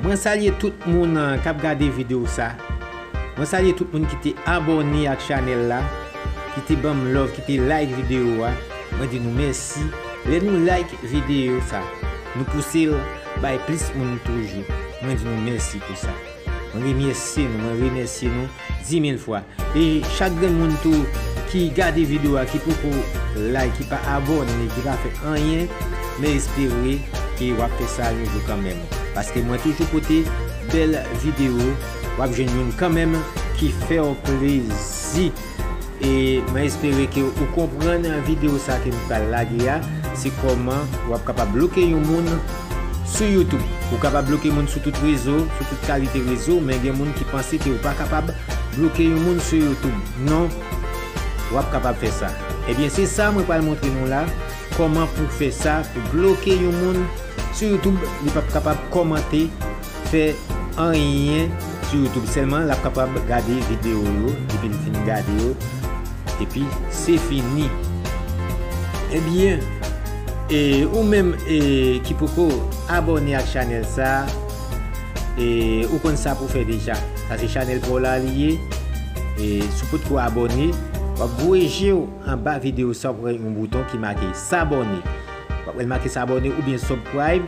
Mwen salye tout moun kap gade video sa mwen salye tout moun ki te abòne ak chanèl la ki te banm love ki te like video a mwen di nou mèsi lè nou like video sa nou pousel bay plis moun toujou mwen di nou mèsi pou sa. Mwen remèsye nou, mwen remèsye nou dimil fwa. E chak grenn moun tou ki gade video a ki poko like, ki pa abone, ki pa fè anyen, mwen espere ke wap fè sa yon jou kanmenm. Paske mwen toujou pote bèl video, wap jwenn youn kanmenm ki fèw plezi. E mwen espere ke ou konprann video sa ke m pral lage a, se kòman ou ap kapab bloke yon moun sou youtube. Ou kapab bloke moun sou tout rezo, sou tout kalite rezo, men gen moun ki panse ke ou pa kapab bloke yon moun sou youtube. Non, ou ap kapab fè sa. Ebyen se sa mwen pral montre nou la, kòman pou fè sa, pou bloke yon moun sou youtube, li p ap kapab kòmante. fè anyen sou youtube sèlman lap kapab gade video yo depil fin gade yo epi se fini ebyen e ou menm e ki poko abòne ak chanèl sa e ou konn sa pou fè deja sa se chanèl paw la li ye e si w potko abòne wap voye jew anba video sa wap wè yon bouton ki make sabòne wap wèl make sabòne oubyen subcribe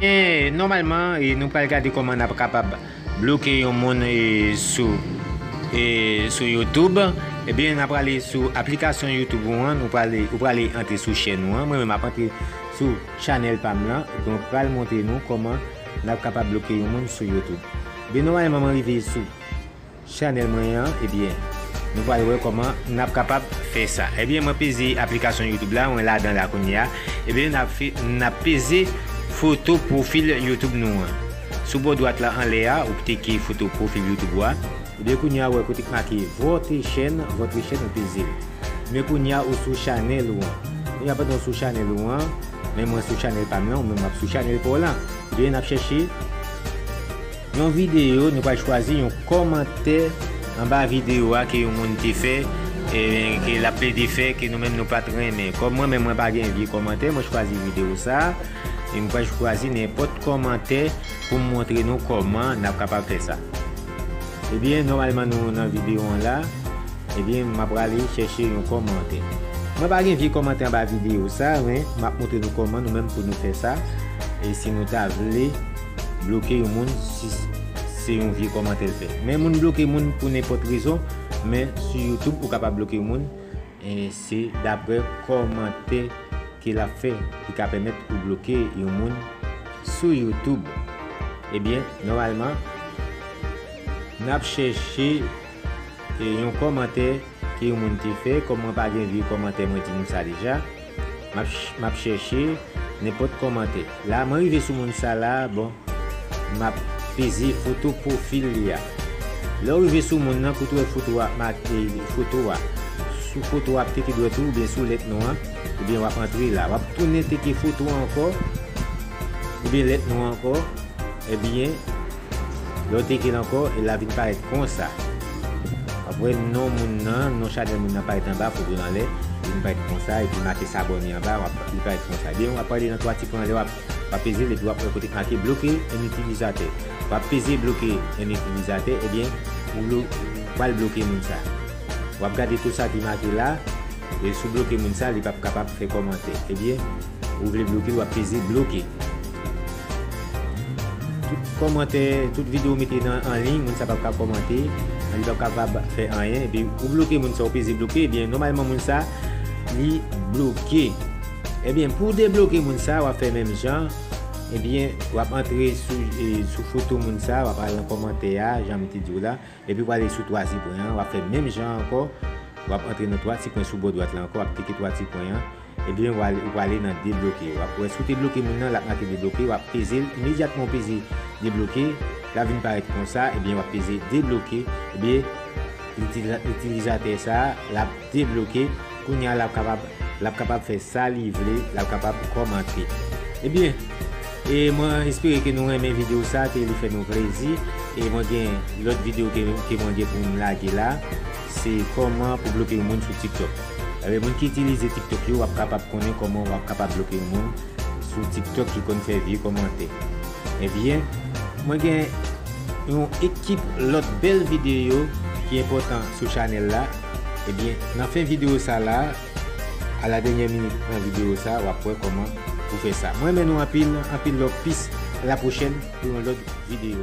Eee nòmalman e nou pral gade kòman nap kapab bloke yon moun e sou e sou YouTube ebyen nap prale sou aplikasyon YouTube ou an nou prale ou prale antre sou chèn ou an mwen menm ap antre sou chanèl pam lan donk pral montre nou kòman nap kapab bloke yon moun sou YouTube ebyen nòmalman mwen rive sou Chanel mwen an ebyen nou pral wè kòman nap kapab fè sa ebyen mwen peze aplikasyon youtube la mwen ladan la kounye a ebyen nap fè nap peze foto pwofil youtube nou an sou bò dwat la anlè a ou ktike foto pwofil youtube ou a ebyen kounye a ou wè kote ki make vòtre chèn vòtre chèn ou pezel men kounye a ou sou chanèl ou an kounye a pandan ou sou chanèl ou an men mwen sou chanèl pam lan ou menm wap sou chanèl paw lan ebyen nap chèche. Yon videyo, nou pral chwazi yon kòmantè anba videyo a ke yon moun te fè, ke l ap plede fè, ke nou menm nou pa t renmen. Kòm mwen menm mwen pa gen vye kòmantè, mwen chwazi videyo sa a, e m pral chwazi nenpòt kòmantè pou m montre nou kòman n ap kapab fè sa. Ebyen, nòmalman nou nan videyo an la, ebyen m ap prale chèche yon kòmantè. Mwen pa gen vye kòmantè anba videyo sa a, men m ap montre nou kòman nou menm pou nou fè sa, e si nou ta vle. Bloke yon moun si se yon vye kòmantè l fè. Men moun bloke moun pou nenpòt rezon, men sou youtube ou ka pa bloke yon moun se daprè kòmantè ke l ap fè ki ka pèmèt ou bloke yon moun sou youtube. Ebyen nòmalman n ap chèche yon kòmantè ke yon moun te fè, kòm mwen pa gen vye kòmantè mwen di nou sa deja. Map chèche nenpòt kòmantè. La mwen rive sou moun sa la bon map peze foto pwofil li a lè ou rive sou moun nan kout wè foto a ap make foto a sou foto a ap teke dwèt ou oubyen sou lèt non an oubyen wap antre la wap tounen teke foto a ankò oubyen lèt non an ankò ebyen Lè w teke l ankò, e la vin parèt konsa. Apre non moun nan, non chanèl moun nan parèt anba, foto l anlè, li vin parèt konsa, epi make s abòne anba, w ap, li parèt konsa. Ebyen, w ap ale nan twa ti pwen anlè, w ap, w ap peze l epi w ap wè kote k make bloke en utilizatè. W ap peze bloke en utilizatè, ebyen, ou blo, ou pral bloke moun sa. W ap gade tou sa ki make la, e si w bloke moun sa, li p ap kapab fè kòmantè. Ebyen. Ou vle bloke l wap peze bloke. Tout kòmantè, tout video ou mete nan anliy moun sa pap ka kòmante, li pap kapab fè anyen epi ou bloke moun sa ou peze bloke ebyen nòmalman moun sa li bloke. Ebyen pou debloke moun sa wap fè menm jan ebyen wap antre sou foto moun sa wap al nan kòmantè a janm te di w la. Epi w ale sou 3 ti pwen an, w ap fè menm jan an ankò, w ap antre nan 3 ti pwen sou bò dwat la ankò, w ap klike 3 ti pwen an, ebyen w al ou prale nan debloke. W ap wè si w te bloke moun nan, l ap make debloke, w ap peze l, imedyatman ou peze debloke, l ap vin parèt konsa, ebyen w ap peze debloke, ebyen itilizatè sa a l ap. debloke kounya lap kapab lap kapab fè sa li vle lap kapab kòmante ebyen e mwen espere ke nou renmen video sa ke li fè nou plezi e mwen gen lòt video ke mwen gen pou m lage la se kòman pou bloke yon moun sou tiktok ebyen moun ki itilize tiktok yo wap kapab konnen kòman wap kapab bloke yon moun sou tiktok ki konn fè vye kòmante ebyen mwen gen yon ekip lòt bèl video ki enpòtan sou chanèl la. Ebyen nan fen video sa la a la denyè minit pran video sa wap wè kòman pou fè sa mwen renmen nou anpil anpil love peace a la pwochèn pou yon lòt video.